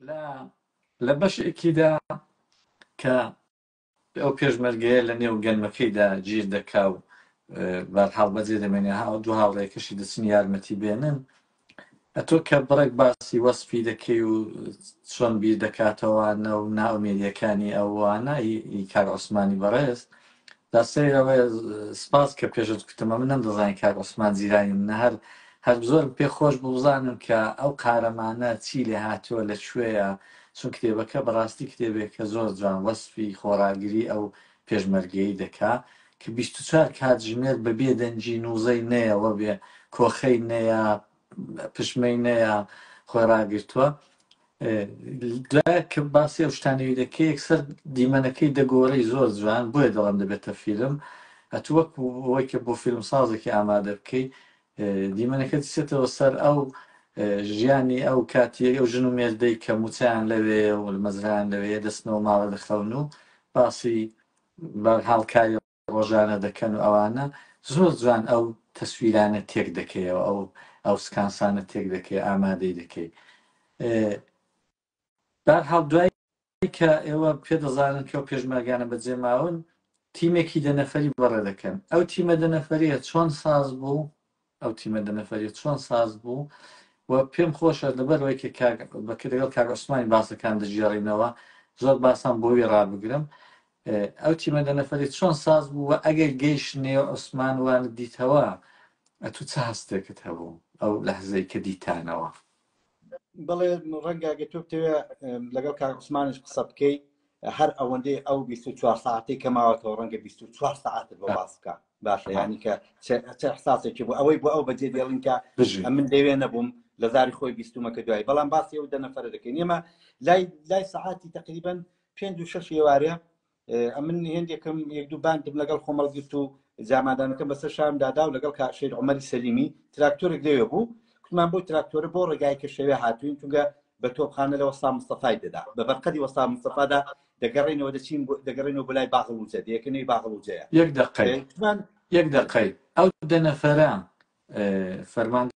لە لە بەشێکیدا کە ئەو پێشمەرگەیە لە نێو گەنمەکەیدا گیر دەکا و بەرحاڵ بەجێ دەمێنێ ها دوو هاوڕێکەشی دەچن یارمەتی بێنن ئەتۆ کە بڕێک باسی وەسپی دەکەی و چۆن بیر دەکاتەوەوانە و ناومێریەکانی ئەوانە کار عوسمانی بەڕێز جا سەیر ئەوەیە سپاس کە پێشت کوتم ئەمن نەمدەزانی کاک عوسمان زیرانی منە هەر هەر زۆرم پێ خۆش بوو بزانم کە ئەو قارەمانە چی لێ هاتووە لە کوێیە چون کتێبەکە بەڕاستی کتێبێک کە زۆر جوان وەسفی خۆڕاگری ئەو پێشمەرگەی دەکا کە 24 کاتژمێر بەبێ دەنگی نووزەی نەیەوە بێ کۆخەی نەیە پشمەینەیە خۆی ڕاگرتووە دوای کە باسی ئەو شتانەوی دەکەی یەکسەر دیمەنەکەی دەگۆڕی زۆر جوان بۆیە دەڵم دەبێتە فیلم ئەت وەک ئەوەی کە بۆ فیلم سازێکی ئامادە بکەی دیمەنەکە دچێتەوە سەر ئەو ژیانی ئەو کاتی ئەو ژن و مێردەی کە موچیان لەوێ و مەزران لەوێ دەستنەوە ماڵە دەخەون و باسی بەرحاڵکاری ڕۆژانە دەکەن و ئەوانە زۆر جوان ئەو تەسویرانە تێک دەکەیەوە ئەو ئەو سکانسانە تێک دەکەی ئامادەی دەکەی بار هاڵ دوای کە ئێوە پێ دەزانن کە و پێشمەرگانە بەجێ ماون تیمێکی دەنەفەری بەڕێ دەکەن ئەو تیمە دەنەفەریە چۆن ساز بوو ئەو تیمە دە نەفەریە چۆن ساز بوو و پێم خۆشە لەبەرەوەی کە کاک بەکر لەگەڵ کاک عوسمانی باسەکان دەژێڕینەوە زۆر باسان بۆوی ڕابگرم ئە، ئەو تیمە دە نەفەری چۆن ساز بوو و ئەگەر گەیش نێو عوسمان وانت دیتەوە ئەتوو چ هەستێکت هەبوو ئەو لەحزەی کە دیتانەوە بەڵێ ڕەنگە گە تۆ بتەوێ لەگەڵ کار عوسمانش قسە بکەیت هەر ئەوەندەی ئەو 24 ساعتی کە ماوەتەوە ڕەنگە 24 ساعت بۆ باس بکە باشە ینی کە چ حساسێکی بۆ ئەوەی بۆ ئەو بەجێ دێڵین کە من دەوێ نەبووم لە زاری خۆی بیستومەکە دوای بەڵام باسی ئەو دەنەفرە دەکەین ئێمە لای لای سعاتی تقریبن پێنج و شش ێوارێ ئەمن هێندێکم یەک دوو باندم لەگەڵ خۆم هەڵگرت و جامادانەکەم بەسەر شام دادا و لەگەڵ کاشێت عمەری سەلیمی تراکتۆرێک لەوێ بوو کوتمان بۆی تراکتۆرە بۆ ڕێگای کە شەوێ هاتوین چونگە بە تۆپخانە لە وەستا مستەفای دەدا بە بەرقەدی وەستا مستەفادا دەگەڕێنەوە دەچین دەگەڕێنەوە بۆ لای باغڵوجە دەیەکەنەوەی باغڵوجەیە یەک دەقەی یەک دەقەی ئەو دە نەفەرە فەرمان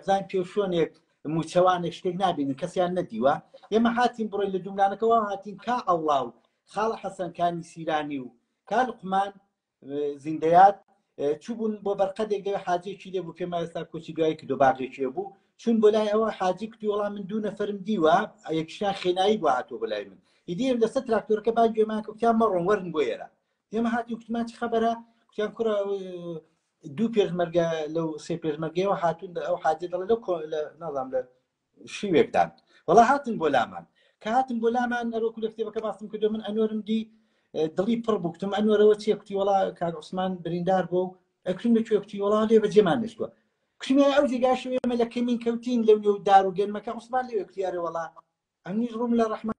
بزان پێ شوێنێک موچەوانێک شتێک نبینن کەسیان نەدیوە ئێمە هاتین بڕۆی لە دوملانەکەەوە هاتین کا ئەڵا و خاڵە حەسەنکانی سیرانی و کار قمان زیندەیات چوبوون بۆ بەرقەدێک دەوێ حاجێکی لێبوو پێما ئێستا کۆچی دوای کردو باغێکێ بوو چون بۆ لای ئەوە حاجی کتی وڵام من دوو نەفرم دیوە یەکشیان خێنایی بۆ هاتۆ بۆ لای من ئیدیم لەسەر تراکتۆرەکە با گوێمان کوتیان مەڕۆن وەرن بۆ ئێرە ئێمە هاتی کوتمان چ خەبەرە کوتیان کوڕە دوو پێشمەرگە لەو سێ پێشمەرگەوە هاتون ئەو حاجی دەڵێ لەو نازام لە شیوێکدان وڵا هاتن بۆ لامان کە هاتن بۆ لامان ئەرۆکو لە کتێبەکە باستم کردو من ئەنۆرم دی دڵی پڕ بکتم ئەنۆرەوە چیە کوتی وڵا کاک عوسمان بریندار بۆ و ئەکرم لە کوێکتی وڵا لێ بە جێمان نشتوە کشمە ئەو جێگاشێمە لە کەمین کەوتین لەو نێو دار و گەنمەکە عوسمان لێ کوتیارە وڵا ئەمنیش ڕوم لە ڕحمان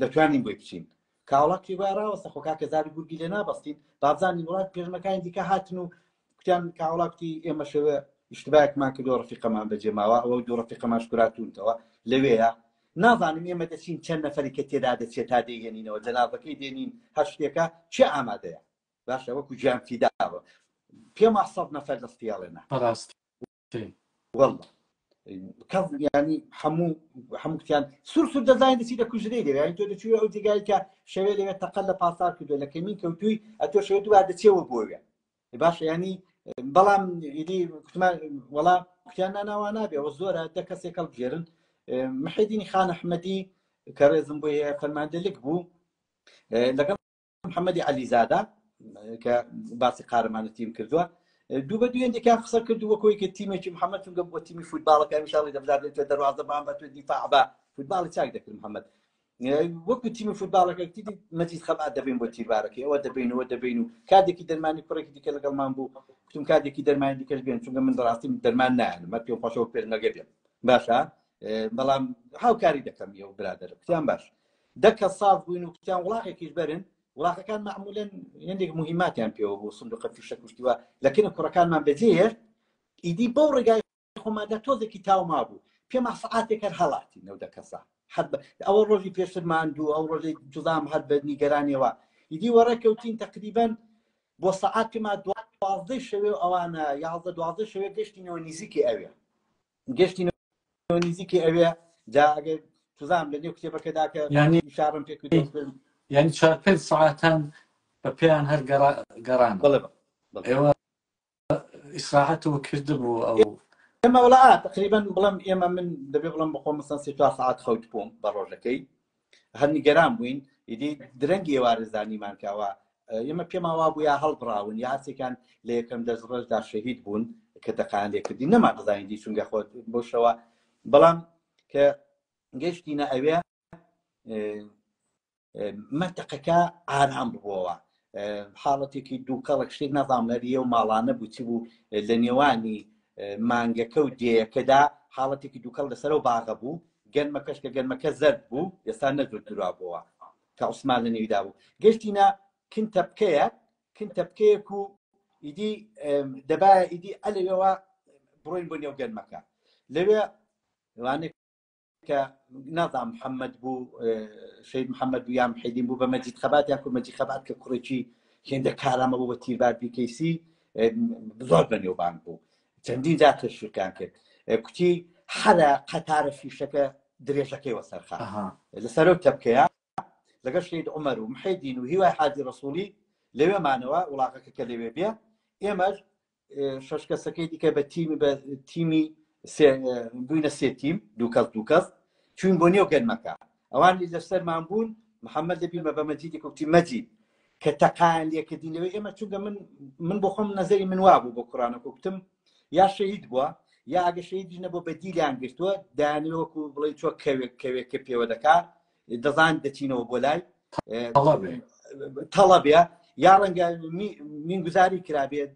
دەتوانین بۆی بچین کاوڵات پێی وایە ڕاوەستە خۆ کاکە زاری گورگی لێ نابەستین بابزانین وڵات پێشمەکانی دیکە هاتن و کوتیان کاوڵا کوتی ئێمە شەوێ ئیشتباکمان کردو ڕفیقەمان بەجێماوە ئەوە دوو ڕفیقەمان شکراتونتەوە لەوێیە نازانم ئێمە دەچین چەند نەفەری کە تێدا دەچێت تا دێنینەوە جەنابەکەی دێنین هەر شتێکە چێ ئامادەیە باشە وەکو گیان فیداوە پێما سەد نەفەر دەستیاڵێنە بەڕاستی واللە کەڵ ینی هەموو هەمووتیان سور سور دەزانین دەچی لە کوژرەی لەوێ ینی تۆ دەچوی ئەو جێگای کە شەوێ لەوێ تەقەل لە پاسار کردو لە کەمین کەوتوی ئەتۆ شەوێ دووار دەچێەوە بۆوێ باشە ینی بەڵام ئیدی کوتمان وەڵا کوتیان ناناوا نابێ و زۆرە دە کەسێک کەڵ بژێرن محیدینی خان ئەحمەدی کە ڕێزم بۆ هەیە فەرماندە لک بوو لەگەڵ محەمەدی عەلیزادە کە باسی قارەمانە تیم کردووە دوو بە دوێندێکیان قسە کرد وە کۆیکە تیمێکی محەممەد چونگە بۆ تیمی فوتباڵەکە میشاڵی دەبزانێت تۆ دەواازە بان بە تۆ دیفاع بە فوتباڵی چاک دەکرد محەممەد وەکو تیمی فوتباڵەکە تیدی مەجید خەبات دەبین بۆ تیربارەکەی ئەوە دەبینەوە دەبین و کاتێکی دەرمانی کوڕێکی دیکە لەگەڵمان بوو کوتم کاتێکی دەرمانی دیکەش بێن چونگە من ڕاستی دەرمان نایەن مە پێ خۆشەوە پێرنەگە بێن باشە بەڵام هاوکاری دەکەم یە و برادەر کتیان باش دە کە ساف بووین و کوتیان وڵاخێکیش بەرن، وڵاخەکان مەعمولەن هێندێک موهیماتیان پێوە بوو، سندوقە فیشەک و شتی وا لە کن کوڕەکانمان بەجێ هێشت، ئیدی بەو ڕێگای خۆماندا تۆزێکی تاو مابوو، پێما سەعاتێک هەر هەڵاتین ئەو دە کەسە هەر بە ئەوە ڕۆژی پێشتر ماندوو ئەو ڕۆژەی جوزام هەر بە نیگەرانیەوە ئیدی وەڕێ کەوتین تەقریبەن بۆ سەعات پێما دوازدەی شەوێ و ئەوانە یازدە دوازدە شەوێ گەشتینەوە نیزیکی ئەوێ گەشتی نزیکی ئەوێ جا ئەگەر تزام لە نێو کتێبەکەدا کە شارم پێ ینی چوار پێ ساعتان بە پێیان هەر گەڕان ئێوە ئیسراحەتەوە کردبوو ئەو ئێمە وڵات تقریبان بڵم ئێمە من دەبێ بڵم بخۆ مەسەن سێ چوار ساعت خەوت بووم بە ڕۆژەکەی هەر نیگەران بووین ئیدی درەنگی ئێوارە زانیمان کەوا ئێمە پێما وا بوو یا هەڵبڕاون یا هەرسێکان لە یەکەم دەست ڕۆژدا شەهید بوون کە دەقان لێکردی نەما دەزانین دی چونگە خۆت بۆ شەوە بەڵام کە گەشتینە ئەوێ منتەقەکە ئارام بووەوە حاڵەتێکی دووکەڵک شتێک نازانم هەریە و ماڵانە بوو چی بوو لە نێوانی مانگەکە و دێیەکەدا حاڵەتێکی دووکەڵ لەسەرەوە باغە بوو گەنمە کەشکە گەنمەکە زەرد بوو ئێستا نەزور درا بووە کە عوسمان لە نێویدا بوو گەشتینە کن تەپکەیە کن تەپکەیەک و ئیدی دەبا ئیدی ئەلەوێەوە بڕۆین بۆ نێو گەنمەکە لەوێ وانێک کە نازام محەممەد بوو شید محەممەد بوو یان حیدین بوو بە مەجید خەبات یا کو مەجی خەبات کە کوڕێکی هێندە کارامە بوو بە تیربار بیکەیسی زۆر بە نێوبان بوو چەندین جا تشویقیان کرد کوتی حەرە قەتارە فیشەکە درێژەکەی وەسەرخە لە سەرۆک تەبکەیە لەگە شید عمر و محیدین و هیوای حاجی ڕسوولی لەوێمانەوە وڵاقەکە کە لەوێ بێ ئێمەش شەش کەسەکەی دیکە بە تیمی بە تیمی بووینە سێ تیم دووکەس دووکەس چوین بۆ نێو گەرمەکە ئەوانی لەسەرمان بوون محەممەد دەبیمە بە مەجیدی کوتی مەجید کە تەقان لێکردین لەوەی ئێمە چونکە من من بۆ خۆم نەزەری من وابوو بۆ کوڕانە کوکتم یا شەید بووە یا ئەگە شەیدی نەبوو بە دیلیان گرتووە دانیوەکو بڵێ چۆ کەوێک کەوێک کە پێوە دەکات دەزان دەچینەوە بۆ لای تەڵەبێ یا ڕەنگە مینگوزاری کرابێت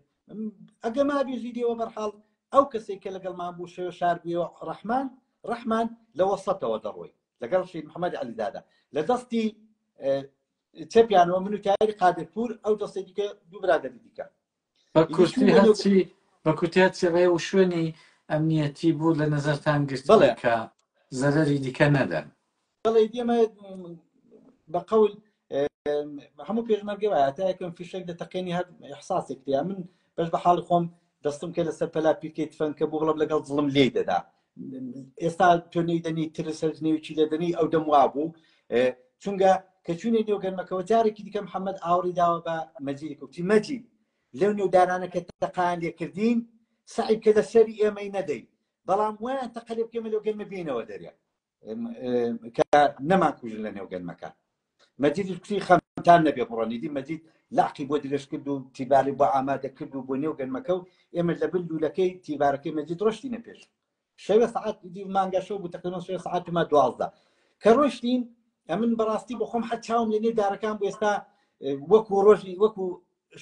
ئەگە ما بێژی دێوە بەرحاڵ ئەو کەسێک کە لەگەڵمان بوو شێوە شاربیەوە ڕەحمان ڕەحمان لەوە سەتەوە دەڕۆی لەگەڵ شید محەممەد علیدادا لە دەستی چەپیانەوە من و تایری قادرپور ئەو دەستی دیکە دوو برادری دیکە بە ئیدی چوو کورتی بۆ نێو هەرچی بە کورتی هەرچی ڕێ و شوێنی ئەمنیەتی بوو لە نەزەرتان گرتووە بەڵێ کە زەرەری دیکە نەدەن بەڵێ ئیدی ئەمە بە قەول هەموو پێشمەرگێ وایە تا یەکەم فیشەک دەتەقێنی هەر احساسێک تیا من بەش بە حاڵی خۆم دەستم کە لەسەر پەلا پیرکەی تفەنکە بوو بڵم لەگەڵ زڵم لێی دەدا ئێستا تۆ نەیدەنی ترس هەرز نێوچی دەدەنی ئەو دەم وابوو چونگە کە چوینە نێو گەرمەکەەوە جارێکی دیکە محەممەد ئاوری داوە بە مەجیری کوتی مەجی لەو نێودارانە کە تەقان لێکردین سعی کە لە سەری ئێمەی نەدەی بەڵام وایان تەقەلێ بکەمە لەو گەرمە بینەوە دەرێ کە نەمان کوژن لە نێو گەرمەکە مەجید کوتی خەمتان نەبێ بڕۆن ئیدی مەجید لەعقی بۆ درێژ کرد و تیباری بۆ ئامادە کرد و بۆ نێو گەنمەکە و ئێمە لە بن لوولەکەی تیبارەکەی مەجید ڕۆشتینە پێش شەوێ سعات ئیدی مانگا شەو بوو تەقریبا شەوێ سعات ما دوازدە کە ڕۆشتین ئەمن بەڕاستی بخۆم حە چاوم لە نێو دارەکان بۆ ئێستا وەکو ڕۆژی وەکو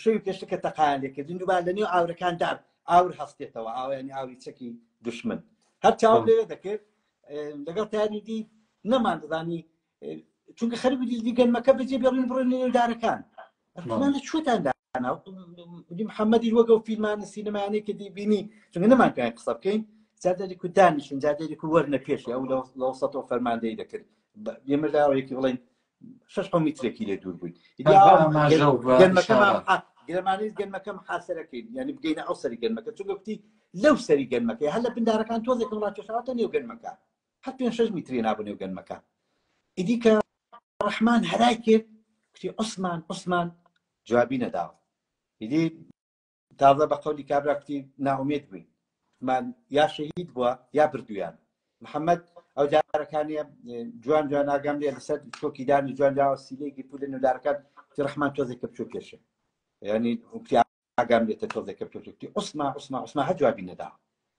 شەوی پێشتە کە تەقایان لێکردین دووبا لە نێو ئاورەکان دار ئاور هەستێتەوە ئاویانی ئاوی چەکی دشمن هەر چاوم لێ دەکرد لەگەڵ تاریدی نەمان دەزانی چونکە خەر دیزنی گەنمەکە بەجێ بێڵین بڕێن لە نێودارەکان ڕمان لە چۆتان دانا دی محەممەدی وەگە و فیلمانە سینەمانەی کە دیبینی چونکە نەمان پێ قسە بکەین جادێری کو دانیشن جادێری کو وەرنە پێش ئەو لە وسەەوە فەرماندەی دەکرد ئێمە لاوەیەکی بڵین شش حە میترێکی لێ دوور بووین گرمانی گەنمەکەم حاسەرەکەین ینی بگەینە ئەو سەری گەنمەکە چونگە کوتی لەو سەری گەنمەکە هەر لە بندارەکان تۆزێکم ڕاکێشاوەتە نێو گەنمەکە هەر پێنج شەش میتری نابوو نێو گەنمەکان ئیدی کە ڕەحمان هەرای کرد کوتی عوسمان عوسمان جوابی نەداوە ئیدی تازە بە قەولی کابرا کوتی ناومێت بووین من یا شەهید بووە یا بردویان محەممەد ئەو دارەکانە جوان جوان ئاگام لێ لەسەر تۆکیدانی جوان جاوە سیلێکی پولە نودارەکان تی ڕحمان تۆزێک کە بچوو پێشێ ینی ئاگام لێتە تۆزێکە پێوتوتی عوسما عوسما عوسما هە جوابی نەدا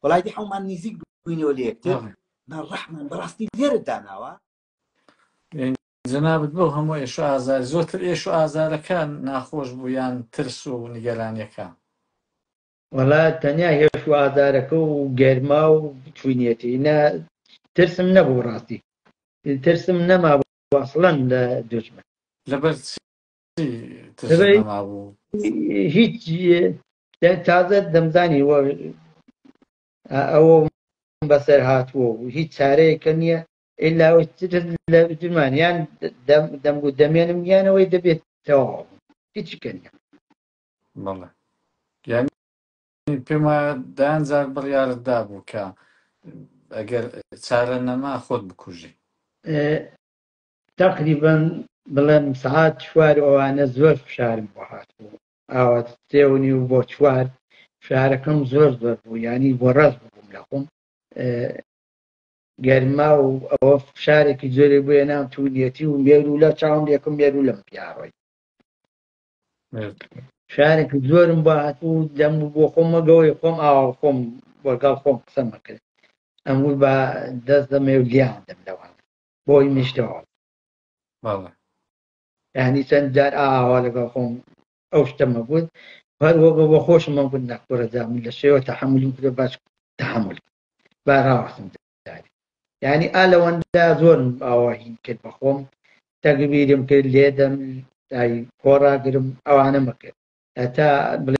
وڵای دی حومان نزیک بووینەوە لە یەکتر من ڕەحمان بەڕاستی لێرە داناوە جەنابت بۆ هەموو ئێش و ئازار زۆرتر ئێش و ئازارەکان ناخۆش بوو یان ترس و نیگەرانیەکان وەڵا تەنیا هێش و ئازارەکە و گەرما و چوینەتی نە ترسم نەبوو ڕاستی ترسم نەما وەسڵەن لە دژمن لەبەر ترسم نەمابوو هیچ تازە دەمزانی وە ئەوە بەسەر هاتووە و هیچ چارەیەکە نییە ئللا لە درمان یان دەم و دەمێنم یانەوەی دەبێت تەواو هیچ کەن بەڵێ یعنی پێم وایە دان جار بڕیارت دابوو کە ئەگەر چارە نەما خۆت بکوژی تەقریبەن بڵێم سەعات چوار ئەوانە زۆر فشارم بۆ هاتبوو ئاوات سێ و نیو بۆ چوار فشارەکەم زۆر زۆر بوو یانی بۆ ڕاست بووم لە خۆم گەرما و ئەوە فشارێکی زۆری بۆیە نام توونیەتی و مێر و لە چاوم یەکم مێر و لەم پیاڕۆی شارێکی زۆرم بۆ هاتوو دەم بۆ خۆمەگەوەی خۆم ئاوا خۆم وەگەڵ خۆم قسەمەکرد ئەمور بە دەست دەمێ و لیان دەم لەوان بۆی نیشتەوە ینی چەند جار ئاوا لەگەڵ خۆم ئەو شتەمە بوت هەر وەگە بە خۆشمە بوت نەخۆرەدا من لە شێوە تەحملی کرێ باش تحمل باراوەسم ینی ئا لەوەندا زۆرم ئاواهین کرد بە خۆم تەگبیرم کرد لێدەم خۆراگرم ئەوانە مەکرد هەتا بڵێ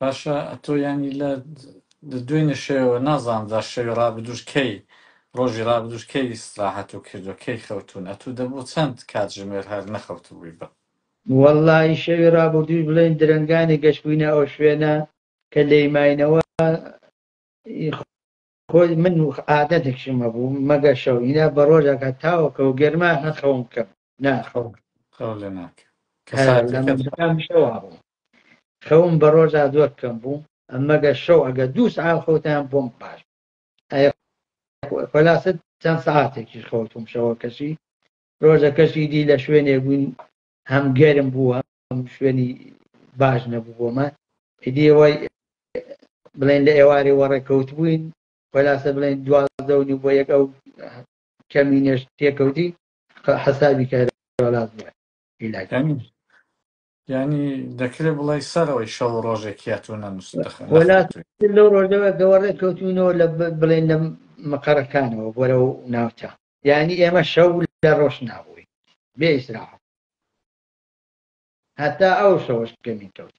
باشە ئەتۆ یانی لە دوێنێ شەوە نازانم جا شەوی ڕابدوش کەی ڕۆژی ڕابدوش کەی ئیسراحەت و کردو کەی خەوتون ئەتو دەبوو چەند کات ژمێر هەر نەخەوتبووی بە وەڵڵاهی شەوی ڕابردووش بڵێن درەنگانی گەشتبووینە ئەو شوێنە کە لێی ماینەوە، ی خۆی من و عادەتێکشم هەبوو مەگە شەو هینا بە ڕۆژەکە تاوەکە و گەرما نەخەوم بکەم ناخەوم خەو لە ناکە کە هە، لە ساتەکە مەزەکان شەوا بوو خەوم بە ڕۆژا زۆر کەم بوو ئەمەگە شەو ئەگە دوو سعات خەوتان بۆم باش ئەیە خۆ- خلاصە چەند سعاتێکیش خەوتم شەوەکەشی ڕۆژەکەشی دی لە شوێنێک بووین هەم گەرم بووە شوێنی باش نەبوو بۆمە ئیدی ئەوەی بڵێن لە ئێوارێ وەڕێکەوت بووین وەلاسە بڵێن دوازدەونی بۆ یەک ئەو کەمی نێش تێکەوتی حەسابی کارلاز بووە ئیلاکانی ینی دەکرێت بڵی سەرەوەی شەو ڕۆژێکیا تو نەنووس لەو ڕۆژەوە گەوەڕێ کەوتونەوە لە بڵێن لە مەقەرەکانەوە بۆرە و ناوچە ینی ئێمە شەو لە ڕۆژ نابووین بێ ئیسراحەت هەتا ئەو شەوەش کەمی کەوت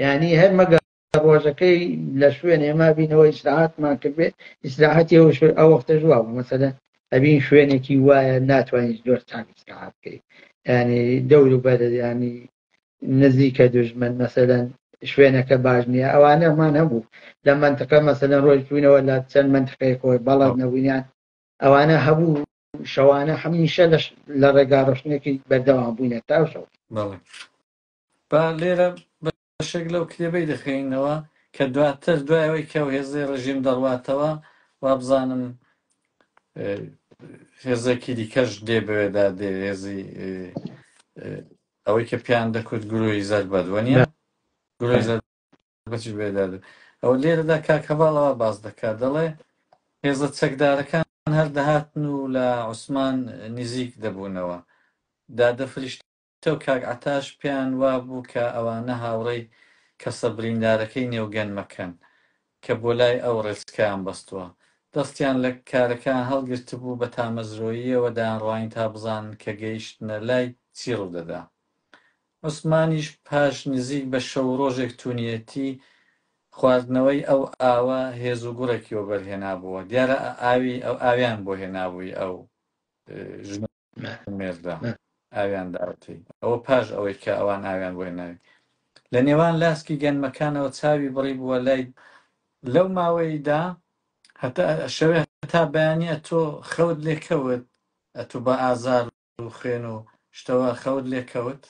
یعنی هەر مەگە ڕۆژەکەی لە شوێنێ ما بینەوە ئیسراحەتمان کردێ ئیسراحەتی ئەو ئەو وەختە جواب مەسەدە ئەبین شوێنێکی وایە ناتوانین زۆر چاک ئیسراحەت بکەیت ینی دەور و بەرە ینی نزیکە دژمن مەسەدەن شوێنەکە باش نییە ئەوانەمان هەبوو لە منتقە مەسەدەن ڕۆژ بووینەوە لە چەند منتقەیەکەوەی بەڵات نەبووینیان ئەوانە هەبوو شەوانە هەمیشە لە ڕێگا ڕشتنێکی بەردەوام بووینە تا شەو بەڵێ با لێرە بەشێک لەو کتێبەی دەخوێنینەوە کە دواتر دوایەوەی کە و هێزەی ڕژیم دەڕواتەوە وابزانم هێزێکی دیکەش دێ بەوێدا دێ هێزی ئەوەی کە پیان دەکوت گروهی زەربەت وەنیە گروهی زەربەت بەچیش بێداد بێت ئەو لێرەدا کاک هەڤاڵ ئەوە باس دەکات دەڵێ هێزە چەکدارەکان هەر دەهاتن و لە عوسمان نزیک دەبوونەوە دادە فریشتە و کاک عەتاش پێیان وابوو کە ئەوانە هاوڕێی کەسە بریندارەکەی نێو گەنمەکەن کە بۆ لای ئەو ڕێچکەیان بەستووە دەستیان لە کارەکەیان هەڵگرتبوو بە تامەزرۆییەوە دایانڕوانی تا بزانن کە گەیشتنە لای چی ڕوودەدا عوسمانیش پاش نزیک بە شەو و ڕۆژێک توونیەتی خواردنەوەی ئەو ئاوە هێز و گوڕێکی وەبەر هێنابووە، دیارە ئە ئاوی ئەو ئاویان بۆ هێنابووی ئەو ژن و مێردە ئاویان داوەتەی ئەوە پاش ئەوەی کە ئەوان ئاویان بۆ هێناوی لە نێوان لاسکی گەنمەکانەوە چاوی بڕی بووە لای لەو ماوەیدا هەتا شەوێ هەتا بەیانی ئەتۆ خەوت لێ کەوت ئەتوو بە ئازار و خوێن و شتەوە خەوت لێ کەوت؟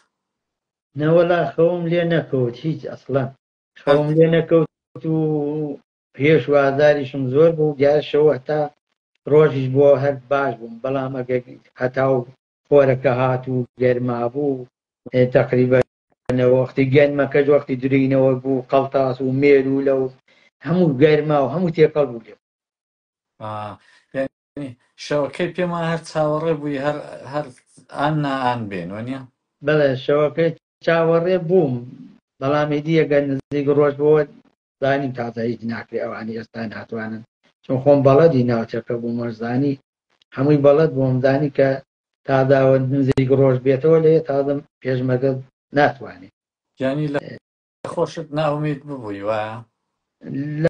نەوەڵا خەوم لێ نەکەوت هیچ ئەسڵەن خەوم لێ نەکەوت و پێش و ئازاریشم زۆر بوو دیار شەو هەتا ڕۆژیش بۆ هەر باش بووم بەڵام ئەگە هەتا و خۆرەکە هات و گەرما بوو تەقریبە وەختی گەنمەکەش وەختی درینەوە بوو قەڵتاس و مێرولە و هەموو گەرما و هەموو تێکەڵ بوو لێ شەوەکەی پێم وایە هەر چاوەڕێ بووی هەر هەر ئان نا ئان بێن وەنیە بەڵێ شەوەکەی چاوەڕێ بووم بەڵام ئیدی ئەگەر نزیک ڕۆژ بۆوە زانیم تازە هیچ ناکرێ ئەوانی ئێستا ناتوانن چون خۆم بەڵەدی ناوچەکە بووم وەرزانی هەمووی بەڵەت بۆم زانی کە تاداوە نزیک ڕۆژ بێتەوە لێ تازم پێشمەگە ناتوانێت یانی لە خۆشت ناومید ببووی وایە لە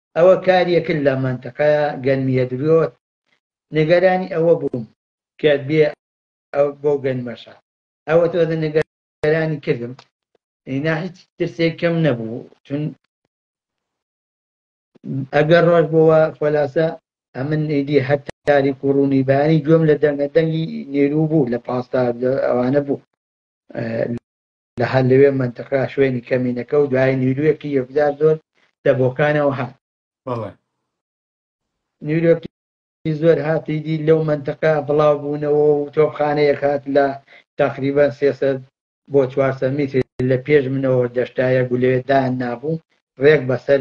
ئەوە کاریەکن لە مەنتقە گەنمیە دروت نگەرانی ئەوە بوم کە بێ ئەو بەو گەنمەشە ئەوە تۆ دە نگەرانی کردم ئینا هیچ ترسێک کەم نەبوو چون ئەگەر ڕۆژ بۆوە خۆلاسە ئەمن ئیدی هەر تاریک و ڕوونی بەیانی گوێم لە دەنگە دەنگی نێرو بوو لە پاستا ئەوانە بوو لە هەر لەوێ مەنتقە شوێنی کەمینەکە و دوایی نیرویەکی یەکجار زۆر لە بۆکانەوە هات. بەڵێ. نیرویەکی زۆر هات ئیدی لەو مەنتقە بڵاو بوونەوە و تۆپخانەیەک هات لە تەقریبەن سێ سەد بۆ چوار سەد میتر لە پێش منەوە دەشتایەک و لەوێ دایان نابوو ڕێک بەسەر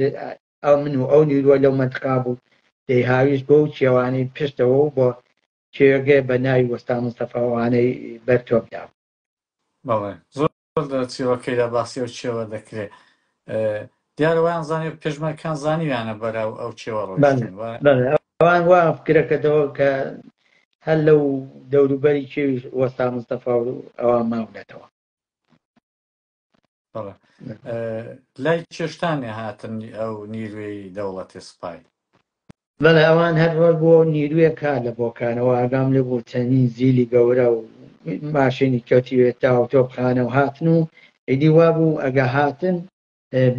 ئەو من و ئەو نیروە لەو مەنتقا بوو دەی هاویشت بۆ و چێوانی پشتەوە و بۆ کێوێگەێ بە ناوی وەستا مستەفا وانەی بەر تۆپدا بوو. بەڵێ زۆر لە چیڕۆکەیدا باسی ئەو چێوە دەکرێ اه، دیارە وایان زانی و پێشمەرکان زانیویانە بەرە و ئەو چێوە بەڵێ ڕۆیشتن و بەڵێ ئەوان وا فکرەکەتەوە کە هەر لەو دەوروبەری چێویش وەستا مستەفا و ئەوان ماونەتەوە بەڵێ لای چێشتانێ هاتن ئەو نیروێی دەوڵەتی سپای بەڵێ ئەوان هەر ڕۆژ بۆ نیروێ کا لە بۆکانەوە ئاگام لێ بوو چەندین زیلی گەورە و ماشێنی کەوتیوێت تا و تۆپخانە و هاتن و ئیدی وا بوو ئەگە هاتن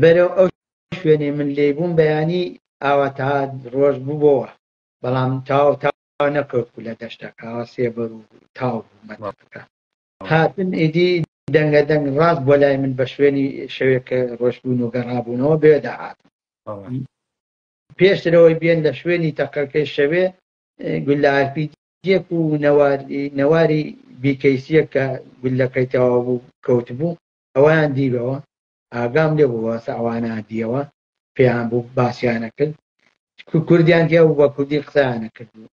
بەرەو ئەو شوێنێ من لێ بووم بەیانی ئاواتا ڕۆژ بووەوە بەڵام تاو تا نەکەوت لە دەشتەکە سێبەر و تاو بوومەکە هاتن ئیدی دەنگە دەنگ ڕاست بوە لای من بە شوێنی شەوێک کە ڕۆشتبوون و گەڕابوونەوە بێ داهاتن پێشترەوەی بێن لە شوێنی تەقەکەی شەوێ گولارپی جێک و نەواری بیکەیسیە کە گولەکەی تەوا بوو کەوت بوو ئەویان دیبەوە ئاگام لێ بوو واسە ئەوانە دیەوە پێیان بوو باسییانە کرد کوردیان دیە و بە کوردی قسانە کرد بوو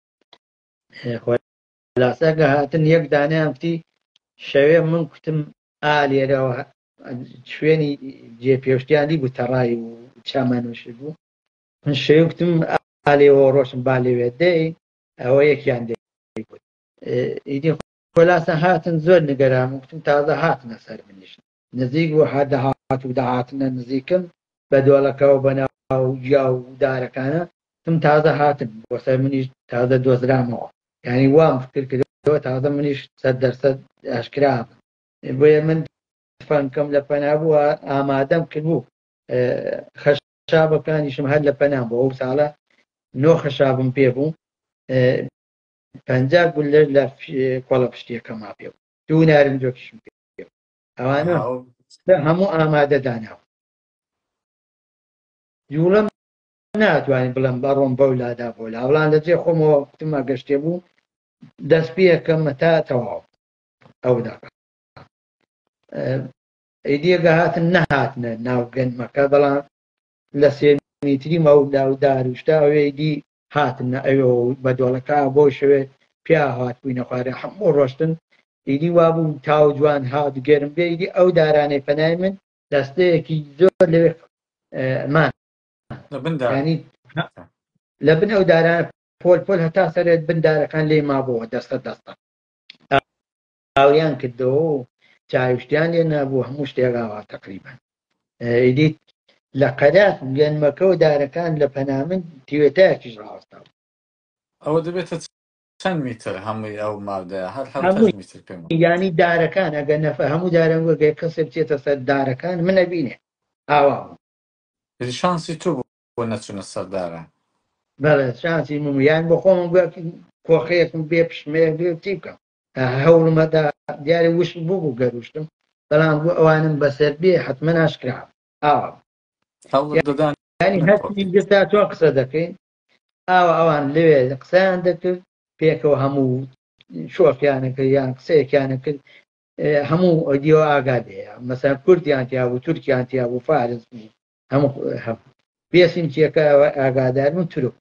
لاساکە هاتن یەک دانیان کوتی شەوێ من کوتم ئا لێرەوە شوێنی جێ پێشتیانی بوو تەڕای و چامانوش بوو من شەوێ کوتم ئالێەوە ڕۆشن با لەوێ دەی ئەوە یەکیان دەی ئیدی خۆلاسە هاتن زۆر نگەرام وتم تازە هاتنە سەر منیش نزیک بوو هەر دەهات و دەهاتنە نزیکم. بە دۆڵەکەوە بە ناو گیا و دارەکانە تم تازە هاتن بۆ سەر منیش تازە دۆزرامەوە یانی وام فکر کردەوە تازە منیش سەد دەرسەد ئاشکرا ئەبم بۆیە من تفەنگەکەم لە پەنا بوو ئامادەم کردبوو خەشابەکانیشم هەر لە پەنام بۆ ئەو ساڵە نۆ خەشابم پێ بوو پەنجا گولەر لە کۆڵە پشتیەکەما پێ بوو دوو نارنجۆکیشم پێ ئەوانە ئەو هەموو ئامادە داناوە جوڵەم ناتوانین بڵم بە ڕۆم بەو لادا بۆ لاوڵان لە جێ خۆمەوە کوتمە گەشتێ بوو دەست پێەکەمە تا تەواو ئەو دەقا ئەیدیەگە هاتن نەهاتنە ناو گەنمەکە بەڵام لە سێ میتری مەودا و داروشتا ئەوێی دی. هاتنە ئەوێ و بە دۆڵەکە بۆ شەوێ پیا هاتبووینە خوارێ هەموو ڕۆشتن، ئیدی وا بوو تاو جوان هات گەرم بێ، ئیدی ئەو دارانەی پەنای من. دەستەیەکی زۆر لەوێ مان. لە بن دار. یانی لە بن ئەو دارانە پۆل پۆل هەتا سەرێ بن دارەکان لێی مابۆوە دەستە دەستە. ئاویان کردەوە و چاویشتیان لێ نابوو هەموو شتێ راوا تەقریبەن ئیدیت لە قەرەخ گەنمەکە و دارەکان لە پەنامن تیوێتایەکیش راوەستا بوو. ئەوە دەبێتە چەند میتر هەمووی ئەو مادەیە هەر هەمووی میتر پێم یانی دارەکان ئەگەر نەفە هەموو دارەنگەگەی کەسێ بچێتە سەر دارەکان منە بینێ ئاوا بوو شانسی تو بۆ نەچونە سەردارە بەڵێ شانسی من یان بۆ خۆم کۆخەیەکم بێ پشمەیە بێ چی بکەم هەوڵمەدا دیارە وشک بوو بوو گەروشتم بەڵام بۆ ئەوانم بەسەر بێ حتممە ناشکرا ئاوام ینی هەستی گرتا تۆ قسە دەکەین ئاوا ئەوان لەوێ قسەیان دەکرد پێکەوە هەموو شۆفیانەکە یان قسەیەکیانە کرد هەموو ئۆدیۆ ئاگادەیە مەسا کوردیان تیا بوو تورکیان تیا بوو فارس بوو هەموو هەبوو بێسیم چیەکە ئاگادار من ترک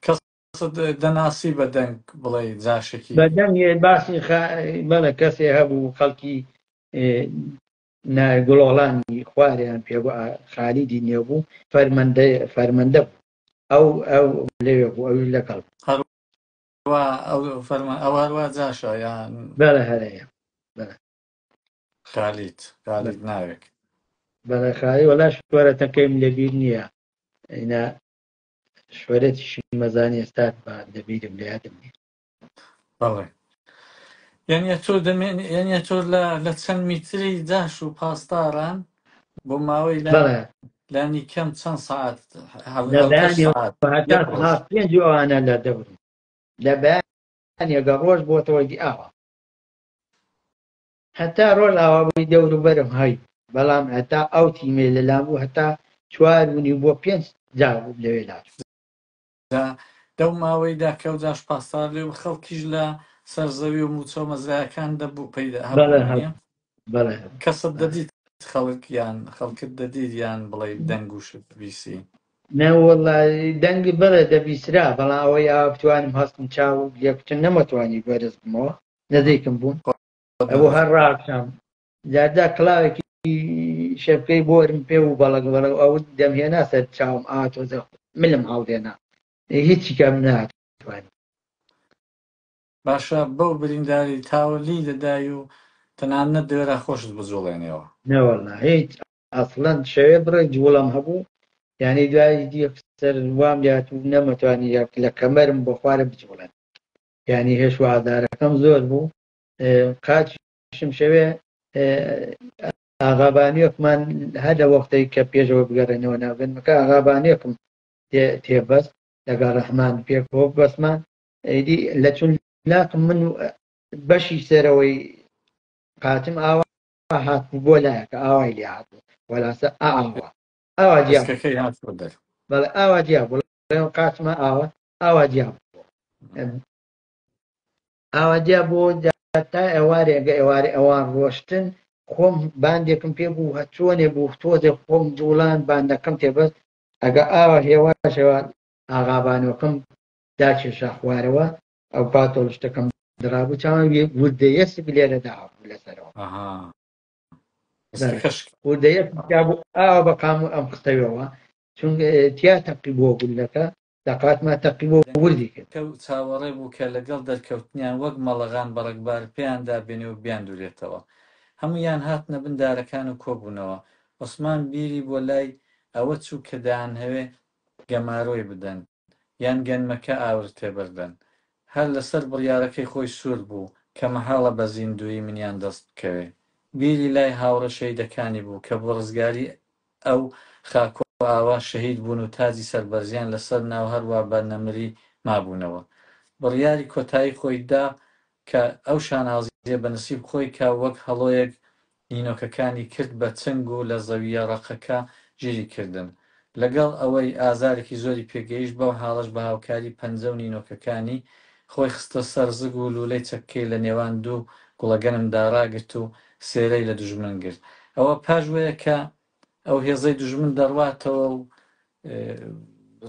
کەس قەسد دەناسی بە دەنگ بڵێ جاشێکی. بە دەنگ یێ باسی خا بەلە کەسێ هەبوو خەلکی نا گڵۆڵانی خوارێان پێ بوو ئا خالیدی نێو بوو فەرمەندە فەرمەندە بوو ئەو ئەو لەوێ بوو ئەویش لە گەڵ. هەر وا ئەو فەرمە ئەو هەر وا جاشە یان. بەلە هەرە یە بەلە. خالید خالید ناوێک. بەلە خالی وەلا شوەرە تەکەیم لە بیر نیە ئینا. شۆرێتیشی مەزانی ئێستا بە لەبیرم لە یادم نیە بەڵێ یانە تۆ دەمێن یانە تۆ لە لە چەند میتری جاش و پاسداران بۆ ماوەی لە بەڵێ لانی کەم چەند سعات لە هەڵش بەیانی سعات هەتا یەک ڕۆژ ساعت پێنج و ئەوانە لە دەورن لە بەیانێگە ڕۆژ بۆتەوەی ئاوە هەتا ڕۆژئاوا بووی دەوروبەرم هەی بەڵام هەتا ئەو تیمەی لەلام بوو هەتا چوار ونیو بۆ پێنج جار لەوێ لاچوو. جا لەو ماوەیدا کە ئەوجاش پاسدار لێ بوو خەڵکیش لە سەر زەوی و مووچە و مەزرایەکان دەبوو پەیدا هەبوو بەڵێ هەبوو وانیە؟ بەڵێ هەبوو کەست بەڵێ دەدیت خەڵک یان خەڵکت دەدیت یان بڵێی دەنگ و شت بیسی؟ نەوەڵا دەنگ بەڵێ دەبیسرا بەڵام ئەوەی ئاوا بتوانم هەستم چاو لێکوتن نەمەتوانی بەرز بمەوە نزیکم بوون. ئەوە هەر ڕاکەم دادا کلااوێکی شەکەی بۆرم پێ و بەڵک بەڵە ئەو دەمهێنا سەر چاوم ئاتۆزە ملم هەڵدێنا هیچی کەم ناتوان باشە بەو برینداری تاوەلی دەدای و تەنانە دوێرە خۆشت بجوڵێنەوە نەوەڵنا هیچ ئەسڵەن شەوێ بڕێ جوڵم هەبوو یعنی دوای دیسەر وام لات و نەمەتوانی لە کەمەرم بۆ خوارە بجوڵێن یانی هێش و ئازارەکەم زۆر بوو قاچشم شەوێ ئاغابانیۆکمان هەر لە وەختەی کە پێشەوە بگەڕێنەوە ناوگەنمەکە ئاغابانیۆکم تێبەست لەگەڵ ڕەحمان پێک بۆ بەسمان ئەیدی لە چون لاقم من بەشی سەرەوەی قاچم ئاوا هات بۆ لایەکە ئاوای لێ هات وەلاسە ئاوا ئاوا جیاکەکەی هات دەر بەڵێ ئاوا جیا بڵێ قاچمە ئاوا ئاوا دیاب ئاوا دیا بۆ تا ئێوارێگە ئێوارێ ئەوان ڕۆشتن خۆم باندێکم پێ بوو هەچۆنێ بوو تۆزێ خۆم جوڵان باندەکەم تێبەست ئەگە ئاوا هێواشەوە ئاغابانەکەم داکێشا خوارەوە ئەو پاتۆڵ شتەکەم درابوو چاوان وردەیە سگلێرە دابوو لەسەرەوە وردەیە بوو ئاوا بەقام ئەم قتەوەوە چون تیا تەقی بۆ گولەکە دەقاتمان تەقی بۆ وردی کرد. کە چاوەڕێ بوو کە لەگەڵ دەرکەوتنیان وەک مەڵەغان بە ڕەگبار پێیان دابێنێ و بیاندورێتەوە. هەموویان هاتنە بن دارەکان و کۆبوونەوە. عوسمان بیری بۆ لای ئەوە چوو کە دەیانهەوێ گەمارۆی بدەن یان گەنمەکە ئاور تێ بردەن. هەر لە سەر بڕیارەکەی خۆی سوور بوو کە مەحاڵە بە زیندوویی منیان دەست بکەوێ. بیری لای هاوڕێ شەهیدەکانی بوو کە بۆ ڕزگاری ئەو خاک و ئاوا شەهید بوون و تاجی سەربەرزیان لە سەر ناو هەر وا بە نەمری مابوونەوە. بڕیاری کۆتایی خۆی دا کە ئەو شانازییە بە نسیب خۆی کا وەک هەڵۆیەک نینۆکەکانی کرد بە چنگ و لە زەوییە ڕەقەکە ژیری کردن. لە گەڵ ئەوەی ئازارێکی زۆری پێ گەیشت بەو حاڵەش بە هاوکاری پەنجە و نینۆکەکانی خۆی خستە سەر زگ و لوولەی چەککەی لە نێوان دوو گوڵەگەنم دا ڕاگرت و سێرەی لە دوژمن گرت. ئەوە پاژوەیە کە ئەو هێزەی دوژمن دەڕواتەوە و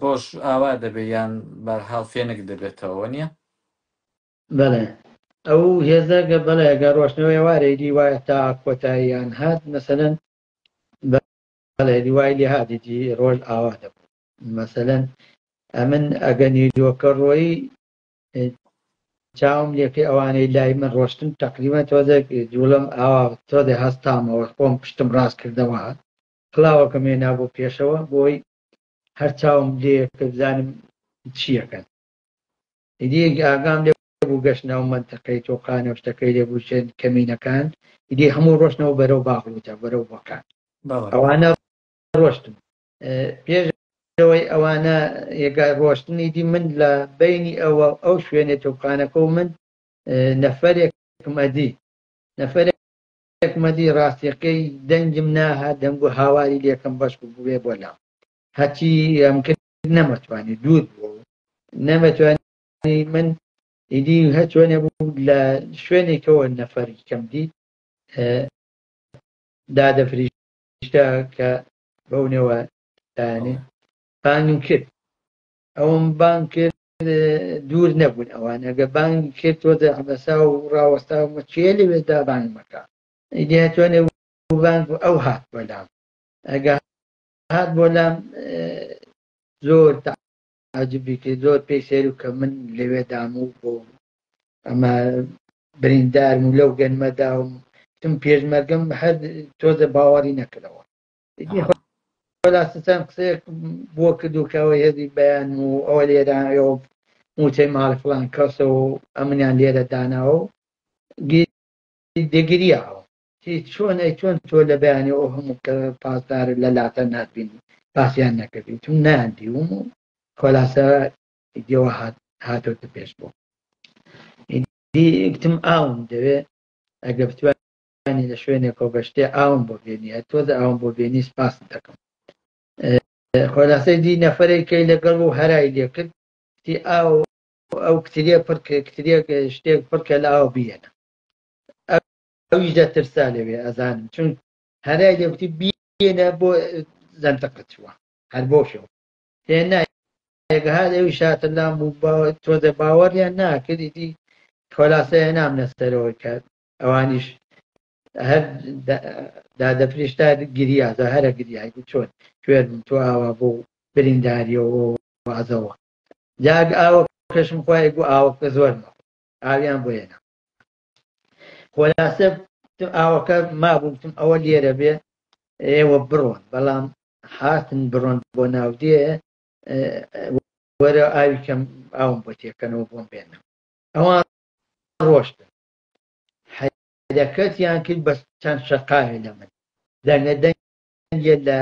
ڕۆژ ئاوا دەبێ یان بارحاڵ فێنک دەبێتەوە وە نیە؟ بەڵێ ئەو هێزە گە بەڵێ گە ڕۆشتنەوە ئێوارەی دی وایە تا کۆتاییان هات مەسەلەن بەڵێ دیوای لێ هاتی دی ڕۆژ ئاوا دەبوو مەسەلەن ئەمن ئەگە نیرۆکە ڕۆیی چاوم لێکەی ئەوانەی لای من ڕۆشتن تەقریبا تۆزێک جوڵم ئاوا تۆزێ هەستامەوە خۆم پشتم ڕاست کردەوە کلااوەکەم هێنا بۆ پێشەوە بۆی هەر چاوم لێ کە بزانم چیەکەن دیەک ئاگام لێ بوو گەشت ناو منتەقەی تۆقانە شتەکەی لێ بووشێن کەمینەکان دی هەموو ڕۆشنەوە بەرەو باغوتە بەرەو بەکان ئەوانە ڕۆشتن پێش ئەوەی ئەوانە یێگای ڕۆشتنی دی من لە بینی ئەوە ئەو شوێنێ تۆپخانەکە و من نەفەرێکم ئەدی نەفەرێکمەدی ڕاستیەکەی دەنگم ناها دەنگ و هاواری لێکم بەش بووێ بۆ لام هەچی ئەم کرد نەمەتوانی دوور بوو نەمەتوانی من ئیدی هەچۆنێ بوو لە شوێنێکەوە نەفەری کەم دی دادەفریشتە کە بەو نێوە لایەنێ بانگم کرد ئەوم بانگ کرد دوور نەبوون ئەوان ئەگە بانگ کرد تۆ دەحبەسا و ڕاوەستا و مەچێ لەوێدا بانگ مەکە ئیدی هەتوانێ بانگ و ئەو هات بۆ لام ئەگە هات بۆ لام زۆر ئەجبیتی زۆر پێی سەیرو کە من لەوێ دام و بۆ ئەمە بریندارم و لەو گەنمە داوم تم پێشمەرگەم هەر تۆزە باوەڕی نەکردەوە بەلاستان قسەیەک بۆ کردوکەوە هێزی بەیان و ئەوە لێرە ئەوە موچەی ماڵی فلان کەسە و ئەمنیان لێرە داناوە و دەگریاوە ئەی چۆن ئەی چۆن تۆ لە بەیانی ئەو هەموو کە پاسدار لە لاتە ناتبینی باسیان نەکردی تم نان دیوم و خۆلاسە دیەوە هات هاتۆتە پێش بۆ گتم ئاوم دەوێ ئەگە بتوانانی لە شوێنێک کۆ بەشتێ ئاوم بۆ بێنیە تۆزە ئاوم بۆ بێنی سپاس دەکەم خۆلاسەی دی نەفرێکەی لەگەڵ و هەرای لێکرد تی ئاو ئەو کتریە پڕکە کتریە شتێک پڕکە لە ئاو بێنە ئەویش دە ترسا لەوێ ئەزانم چون هەرای لێوتی بینە بۆ زەندەقە چووە هەر بۆ شەو هێنا هەر ئەوی شاتە لام و تۆ دە باوەڕیان ناکردی دی خۆلاسەیە نام نەسەرەوە کرد ئەوانیش هەر دادە پرشتا گریازە هەرە گریای بوو چۆن کوێرم تۆ ئاوا بۆ برینداریەوە وازەوە جاگ ئاوە کەشم خۆی گو ئاوەکە زۆرمە ئاویان بۆیەنا خۆلاسە ئاوەکە مابووتم ئەوە لێرە بێ ئێوە بڕۆن بەڵام هاتن بڕۆن بۆ ناودێ وەرە ئاوی کەم ئاوم بۆ تێکەنەوە بۆم بێنە ئەوە ڕۆشتن حەدەکەتیان کرد بە چەند شەقاوێ لە من دەنگە دەنگێ لە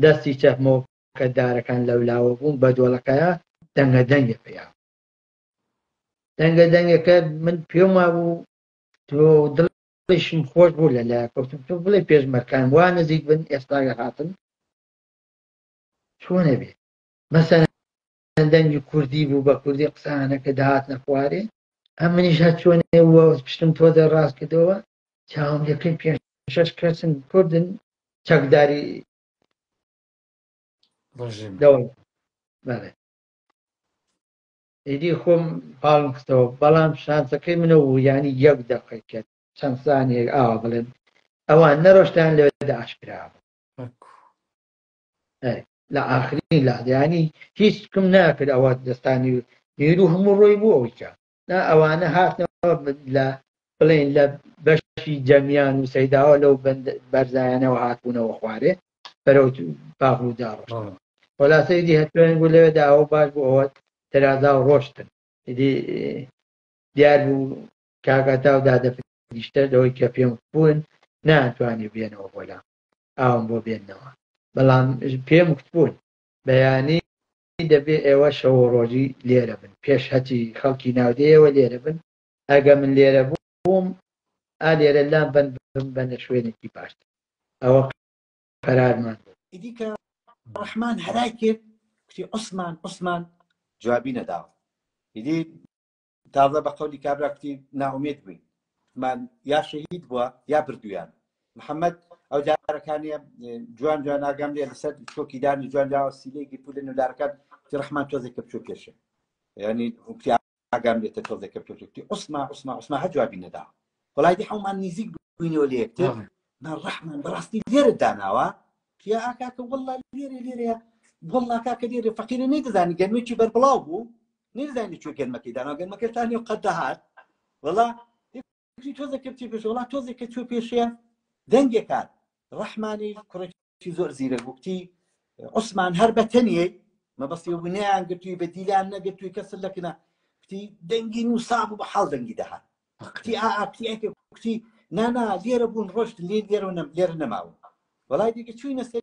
دەستی چەپمەوە کە دارەکان لەولاوە بوون بە دۆڵەکەە دەنگە دەنگێ پێیان دەنگە دەنگەکە من پێم وابوو تۆ دڵیشم خۆش بوو لە لای کەوتم تۆ بڵێ پێشمەرکان وا نزیک بن ئێستاگە هاتن چۆنە بێ مەسەر دەنگی کوردی بوو بە کوردی قسانەکە داهات نەخوارێ ئەم منیش هە چۆنێ وە پشتم تۆ دە ڕاست کردەوە چاوم دەکەین پێ شش کەسن کوردن چەکداری ڕژیم دەوڵ بەڵێ ئیدی خۆم پاڵم خستەوە بەڵام شانسەکەی منە و یانی یەک دەقەی کرد چەند سانیەک ئاوا بڵێن ئەوان نەڕۆشتیان لەوێدا ئاشکرا بوو ئەکو ئەی، لە ئاخرین لادیانی هیچ کم ناکرد ئەوە دەستانی و هێرو هەموو ڕۆی بوو ئەویکە نا ئەوانە هاتنەوە ب- لە بڵێن لە بەشی جەمیان و سەیداوە لەو بەند- بەرزایانەوە هاتبوونەوە خوارێ بەرەو باغودا ڕۆشتن خۆلاسە ئیدی هەتوێن بوو لەوێدا ئەو باش بوو ئەوە تەرازا و ڕۆشتن ئیدی دیار بوو کاگاتا و دادەپریشتەر لەوەی کە پێم بوون نانتوانی بێنەوە بۆلا ئاوم بۆ بێنەوە بەڵام پێم بوون بەیانی دەبێ ئێوە شەوە ڕۆژی لێرە بن پێش هەتی خەڵکی ناودەیەوە لێرە بن ئەگە من لێرە بوو بووم ئا لێرە لام بەند بم بەنە شوێنێکی باشتر ئەوە قەرارمان بوو ئیدی کە ڕەحمان هەرای کرد کوتی عوسمان عوسمان جوابی نەداوە ئیدی تازە بە قەولی کابرا کوتی ناومێت بووین من یا شەهید بووە یا بردویان محەممەد ئەو جارەکانی جوان جوان ئاگام لێ لەسەر چۆکی دانی جوان جاوە سیلێکی پولێن و دارەکان تی ڕحمان تۆزێک کە بچۆ پێشێ ینی ئاگام لێتە تۆزێ کە پێت وتی عوسما عوسما عوسما هەر جوابی نەدا وەڵای دی حەومان نیزیک بووینەوە لە یەکتر بەڵێ من ڕەحمان بەڕاستی لێرە داناوە یا ئاکاکە وەڵا لێرە لێرەیە وەڵا کاکە لێرە فەقیرە نەیدەزانی گەرمێکی بەربڵاو بوو نەیدەزانی لە کوێ گەرمەکەی داناوە گەرمەکە تا نێو قەد دەهات وەڵا فکری تۆزێک کە بچێ پێش وڵات تۆزێک کە چوە پێشێ دەنگێک کات ڕەحمانی کوڕێکی زۆر زیرە گوتی عوسمان هەر بە تەنیەی مەبەستی ونیان گرتووی بە دیلان نەگرتووی کەس لەکنە کتی دەنگی نووساب و بە حاڵ دەنگی دەهات کتی ئاکتی ئەکە کوتی نانا لێرە بوون ڕۆشت لێ لێرە لێرە نەماون وڵای دیکە چووی نەسەر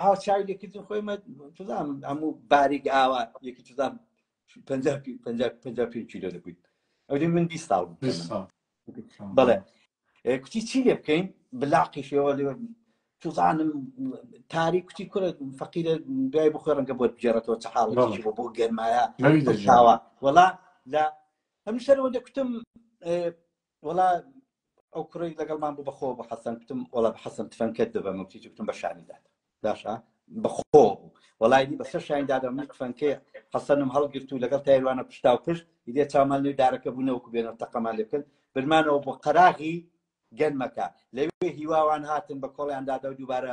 ئاو چای لێکردن خۆی تزان هەموو باریک ئاوا یەکی تزان پێ کیلۆ دەبووین ئەوێ من بی ساڵ بڵێ کوتی چی لێ بکەین بلاقیشەوە لێ تزانم تاری کوتی کورە فەقیرە دوای بخۆ ڕەنگە بۆت بگێڕێتەوە چ حاڵ بۆ گەرمایە وڵا لە ئەم شەرەوە دەکوتم وەڵا ئەو کوڕی لەگەڵمان بوو بەخۆ بە حەسەن کوتم وەڵا بە حەسەن تفەنکەت دەبەم و کیچ کوتم بە شانی دادە باشە بەخۆ بوو وەڵای دی بەسەر شانی دادە من تفەنکەی حەسەنم هەڵگرت و لەگەڵ تایروانە پشتا و پشت دێ چامان لێ دارەکە بوونەوەکو بێنەوە تەقەمان لێ بکەن برمانەوە بۆ قەراغی گەنمەکە لەوێ هیواوان هاتن بە کۆڵیان دادا و دووبارە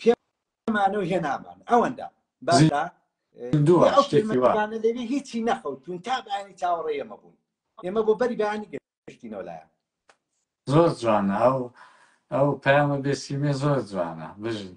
پێمانەوە هێنامان ئەوەندا باشە دەوێ هیچی نەخەوتون تا بەیانی چاوەڕێ ئێمە بوون ئێمە بۆ بەری بەیانی گەشتینەوە لایە زۆر جوانە ئەو ئەو پامە بێسیمێ زۆر جوانە بژن